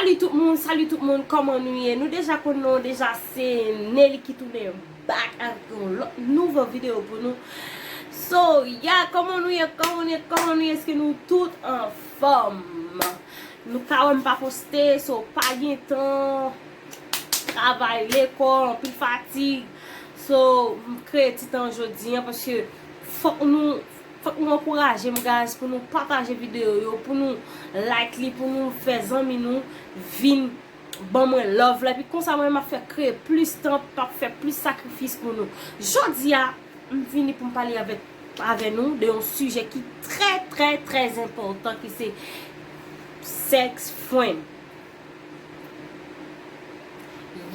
Salut tout moun salut tout moun kòman nou ye nou deja konn non w deja se Nelly ki tounen back avk yon lòt nouvo video pou nou so ya kòman nou ye kòman nou ye kòman nou ye eske nou tout anfòm nou ka wèm pa poste so pa gen tan travay lekòl anpil fatig so m kreye ti tan jodi an paske fòk nou Fòk nou ankouraje m guys pou nou pataje video yo pou nou like li pou nou fè zanmi nou vin ban mwen love la epi konsa mwen menm map fè kreye plis tan map fè plis sakrifis pou nou jodi a m vini pou m pale avèk avè nou de yon sijè ki trè trè trè enpòtan ki se sex fren.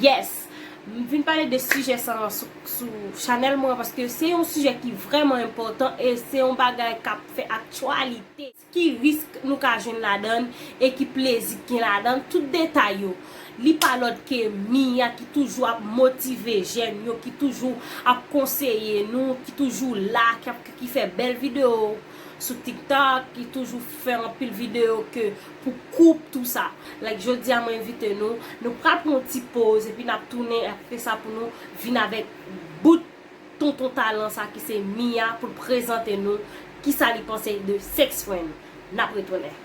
Yes! M vin pale de sijè sa an sou chanèl mwen an paske se yon sijè ki vrèman enpòtan e se yon bagay k ap fè aktyalite. Ki risk nou ka jwenn ladan l e ki plezi ki gen ladan l? Tout detay yo, li pa lòt ke Mia ki toujou ap motive jèn yo, ki toujou ap konseye nou, ki toujou la, ki fè bèl videyo sou TikTok, ki toujou fè anpil videyo ke pou koup tou sa like jodia mwen envite nou nou pral pran yon ti poz epi nap tounen apre sa pou nou vin avèk bout tonton talan sa ki se Mia poul prezante nou kisa li panse de sex friend nap retounen.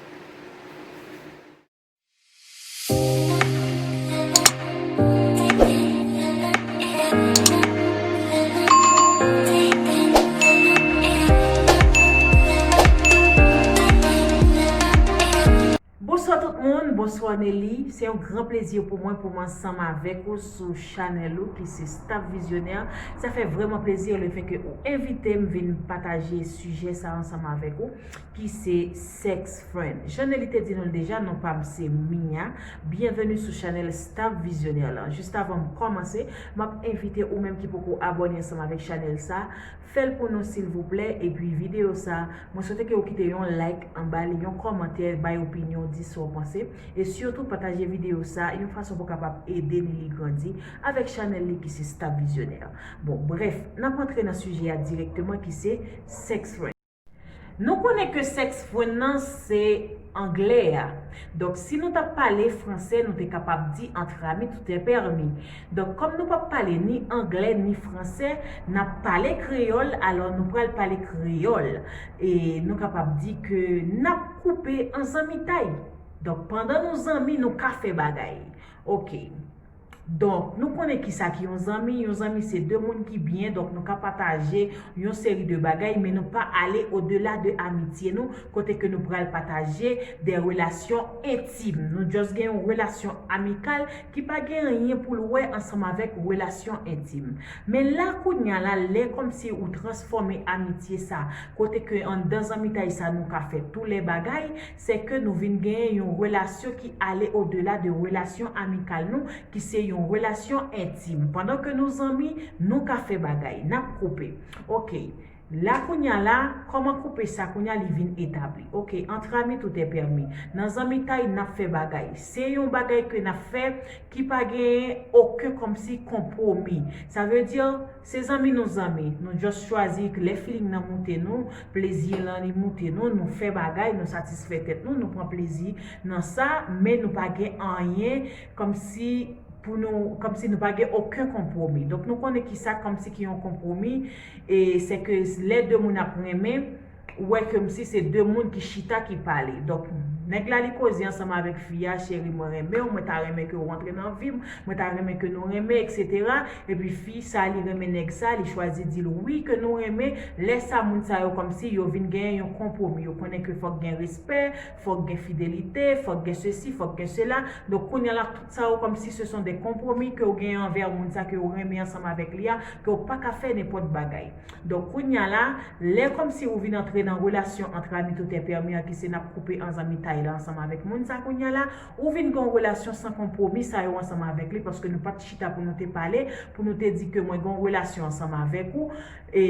Bonswa tout moun, bonswa Nelly, se yon gran plezi pou mwen pou m ansanm avèk ou sou chanèl ou ki se Staff Visionnaire. Sa fè vrèman plezi le fè ke ou envite m vin pataje sijè sa ansanm avèk ou ki se. Sex friend. Jan Nelly te di nou l deja non pam se Mia, byenveni sou chanèl Staff Visionnaire lan. Jis avan m kòmanse, map envite ou menm ki poko abòne ansanm avèk chanèl sa, fèl pou nou silvouplè, epi videyo sa, mwen swete ke ou kite yon like anba li, yon kòmantè, bay opinyon w, di sa w panse, e sitou pataje videyo sa, yon fason pou kapab ede Nelly grandi, avèk chanèl li ki se Staff Visionnaire. Bon, brèf, nap antre nan sijè a dirèkteman ki se Sex friend. Nou konnen ke sex fwen nan se anglè a. Donk si nou tap pale fransè nou te kapab di entre amis tout est permis. Donk kòm nou pap pale ni anglè ni fransè nap pale kreyòl alò nou pral pale kreyòl e nou kapab di ke nap koupe an zanmitay. Donk pandan nou zanmi nou ka fè bagay. Ok. Donk, nou konnen kisa ki yon zanmi, yon zanmi se 2 moun ki byen, donk nou ka pataje yon seri de bagay men nou pa ale odela de amitye nou kote ke nou pral pataje de relasyon entim, nou just gen yon relasyon amikal ki pa gen anyen pou l wè ansanm avèk relasyon entim. Men la kounya la lè kòmsi ou transfòme amitye sa kote ke anndan zanmitay sa nou ka fè tou lè bagay, sè ke nou vin genyen yon relasyon ki ale odela de relasyon amikal nou, ki se yon relasyon entim. Pandan ke nou zanmi, nou ka fè bagay. N ap koupe. Ok. La kounye a la, kòman koupe sa kounye a li vin etabli? Ok, entre amis tout est permis. Nan zanmitay, n ap fè bagay. Se yon bagay ke n ap fè ki pa genyen oken kòmsi konpwomi. Sa vle di. Se zanmi nou zanmi, nou just chwazi k lè feeling nan moute nou, plezi lan li moute nou, nou fè bagay, nou satisfè tèt nou, nou pran plezi nan sa, men nou pa gen anyen kòmsi pou nou, kòmsi nou pa gen oken konpwomi. Donk nou konnen kisa kòmsi ki yon konpwomi, e sè ke lè de moun ap renmen, wè kem si se de moun ki chita ki pale donk nèg la li koze ansanm avèk fi a cheri mwen renmenw mwen ta renmen kew rantre nan vim mwen ta renmen ke nou renmen etc epi fi sa li renmen nèg sa li chwazi dil wi ke nou renmen lè sa moun sa yo kòmsi yo vin genyen yon konpwomi yo konnen ke fòk gen respè fòk gen fidelite fòk gen sesi fòk gen sela donk kounya la tout sa yo kòmsi se son de konpwomi kew genyen anvè moun sa kew renmen ansanm avèk li a kew paka fè nenpòt bagay Donk kounya la, lè kòmsi ou vin antre nan relasyon antre ami tout è pèmi an ki se nap koupe an zanmitay la ansanm avèk moun sa kounya la, ou vin gen yon relasyon san konpwomi sa yo ansanm avèk li paske nou pat chita pou nou te pale, pou nou te di ke mwen gen yon relasyon ansanm avèk ou e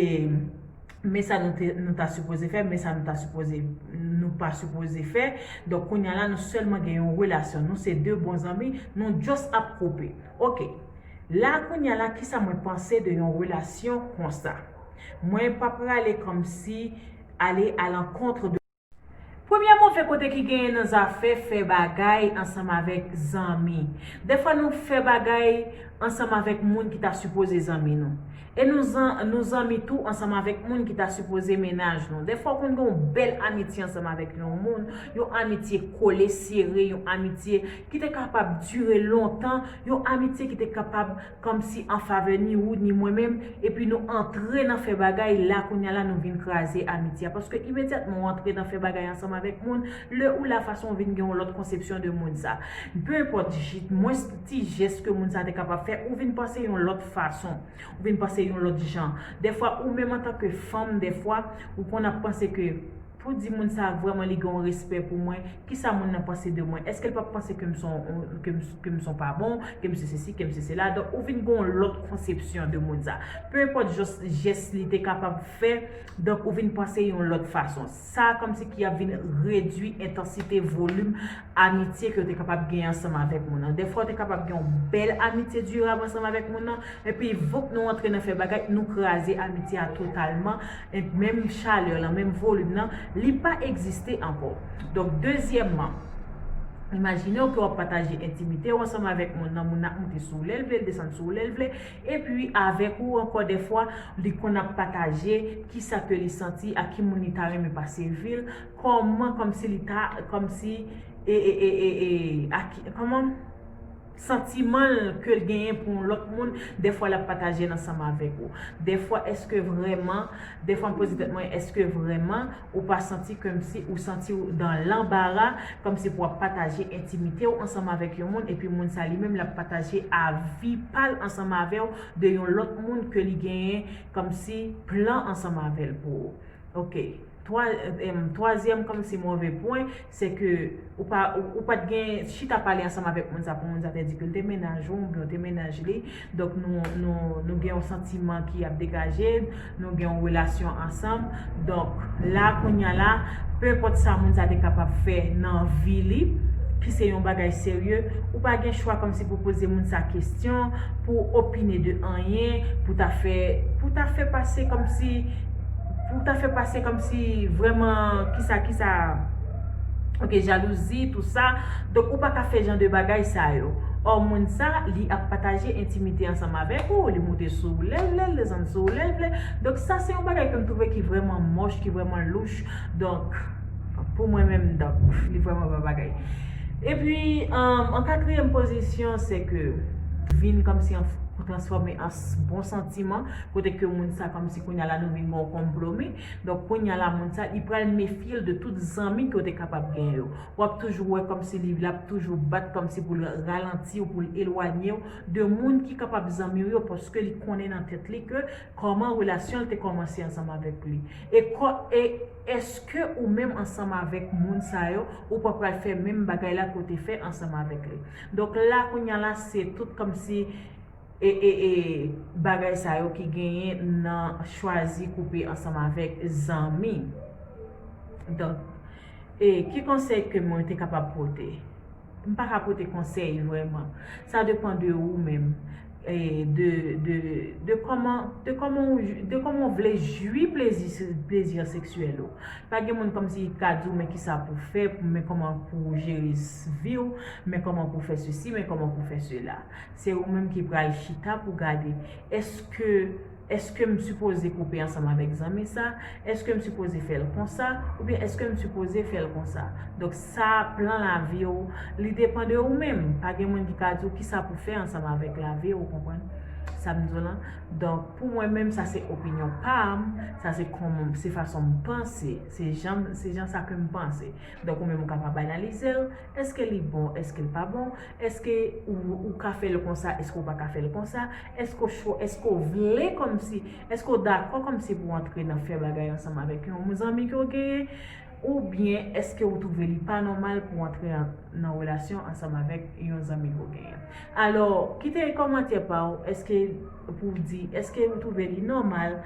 men sa nou te nou ta sipoze fè, men sa nou ta sipoze nou pa sipoze fè, donk kounya la nou sèlman gen yon relasyon, nou se de bon zanmi, nou just ap koupe. Ok. La a kounya la kisa mwen panse de yon relasyon konsa. Mwen pa prale komsi ale a l'encontre de. Premye move kote ki genyen nan zafè fè bagay ansanm avèk zanmi. Dèfwa nou fè bagay ansanm avèk moun ki ta sipoze zanmi nou. E nou zan nou zanmi tou ansanm avèk moun ki ta sipoze mennaj nou. Dèfwa ou konn gen yon bèl amitye ansanm avèk yon moun, yon amitye kole sere, yon amitye. ki te kapab dire lontan, yon amitye ki te kapab kòmsi an favè ni ou ni mwen menm, epi nou antre nan fè bagay, la kounya la nou vin kraze amitye a, paske imedyatman ou antre nan fè bagay ansanm avèk moun, lè ou la fason ou vin gen yon lòt konsepsyon de moun sa, pe enpòt mwens ti jès ke moun sa te kapab fè, ou vin panse yon lòt fason, ou vin panse yon lòt jan, dèfwa ou menm antanke fanm dèfwa ou konn ap panse ke. Pou di moun sa vrèman li gen yon respè pou mwen, kisa moun nan panse de mwen? Eske l pap panse ke m son ke m son pa bon, ke m se sesi, ke m se sela? Donk ou vin gen yon lòt konsepsyon de moun sa. Peu enpòt jòs jès li te kapab fè, donk ou vin panse yon lòt fason. Sa kòmsi ki ap vin redui entansite, volim. amitye ke yo te kapab gen ansanm avèk moun nan. Dèfwa ou te kapab gen yon bèl amitye dirab ansanm avèk moun nan, epi voup nou antre nan fè bagay, nou kraze amitye a totalman, et menm chalè lan, menm volim nan, li pa egziste ankò. Donk, dezyèmman, imajine w ke w ap pataje entimite ou ansanm avèk moun nan, moun nan ap moute sou ou lè l vle, l desann sou ou lè l vle, epi avèk ou ankò dèfwa, li konn ap pataje kisa ke li santi ak ki moun li ta renmen pase vi l, Kòman kòm si li ta kòm si e e e e e aki kòman santiman l ke l genyen pou yon lòt moun dèfwa l ap pataje l ansanm avèk ou dèfwa èske vrèman dèfwa m poze tèt mwen èske vrèman ou pa santi kèm si ou santi w dan lanbara kòm si pou w ap pataje entimite w ansanm avèk yon moun epi moun sa li menm l ap pataje avi pa l ansanm avè w de yon lòt moun ke li genyen kòm si plan ansanm avè l pou ok. 3 èm twazyèm kòmsi move pwen se ke ou pa ou pat gen chita pale ansanm avèk moun sa pou moun sa te di ke l te mennaj ou oubyen ou te mennaj li donk nou nou nou gen yon santiman ki ap degaje nou gen yon relasyon ansanm donk la kounya la pe enpòt sa moun sa te kapab fè nan vi li ki se yon bagay serye ou pa gen chwa kòmsi pou poze moun sa kesyon pou opine de anyen pou ta fè pou ta fè pase kòmsi Fouk ta fè pase komsi vreman kisa kisa ok jalouzi tou sa donk ou paka fè jan de bagay sa yo or moun sa li ap pataje entimite ansanm avek ou li moute sou ou lèl vle li desann sou ou lèl vle donk sa se yon bagay kem trouve ki vreman moch ki vreman louch donk pou mwen menm donk li vreman pa bagay epi an katriyèm pozisyon se ke vin komsi transfome an bon santiman kote ke moun sa komsi. Kounya la nou vin gon konplo mi. Donk kounya la moun sa li pral mefyel de tout zanmi ke w te kapab gen yo. Wap toujou wè komsi li lap toujou bat komsi pou l ralanti w pou l elwanye w de moun ki kapab zanmi w yo paske li konnen nan tèt li ke koman relasyon l te komanse ansanm avèk li. E kò e eske ou menm ansanm avèk moun sa yo ou pa pral fè menm bagay la ke w te fè ansanm avèk li. Donk la kounya la se tout komsi. e bagay sa yo ki genyen nan chwazi koupe ansanm avèk zanmi. Donk, e ki konsèy ke mwen te kapab pote? M pa ka pote konsèy vrèman. Sa depan de ou menm, e de, de, de kòman, de kòman ou, de kòman ou vle jwi plezi, plezi seksyèl ou. Pa gen moun kòmsi ki ka di w men kisa pou fè, men kòman pou jere vi w, men kòman pou fè sesi, men kòman pou fè sela. se ou menm ki pral chita pou gade eske eske m sipoze koupe ansanm avèk zanmi sa, eske m sipoze fè l konsa oubyen eske m sipoze fè l konsa. Donk sa plan lavi ou li depan de ou menm, pa gen moun ki ka di w kisa pou fè ansanm avèk lavi ou konprann sa m di w lan. Donk pou mwen menm sa se opinyon pa m, sa se kòman se fason m panse, se jan sa ke m panse. Donk ou menm ou kapab analize l. Eske li bon, eske l pa bon? Eske ou ka fè l konsa, eske ou pa ka fè l konsa? Eske ou vle kòmsi, eske ou dakò kòmsi pou w antre nan fè bagay ansanm avèk yon zanmi ke w genyen? Oubyen eske ou twouve li pa nòmal pou w antre nan relasyon ansanm avèk yon zanmi ke w genyen? Alò, kite kòmantè pa w, eske pou w di, eske ou twouve li nòmal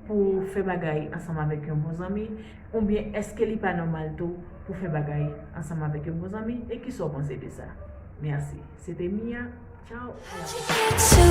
pou w fè bagay ansanm avèk yon bon zanmi? Oubyen èske li pa nòmal tou pou fè bagay ansanm avèk yon bon zanmi e kisa w panse de sa? Mèsi. Se te Mia, tchaw a la pwòchèn.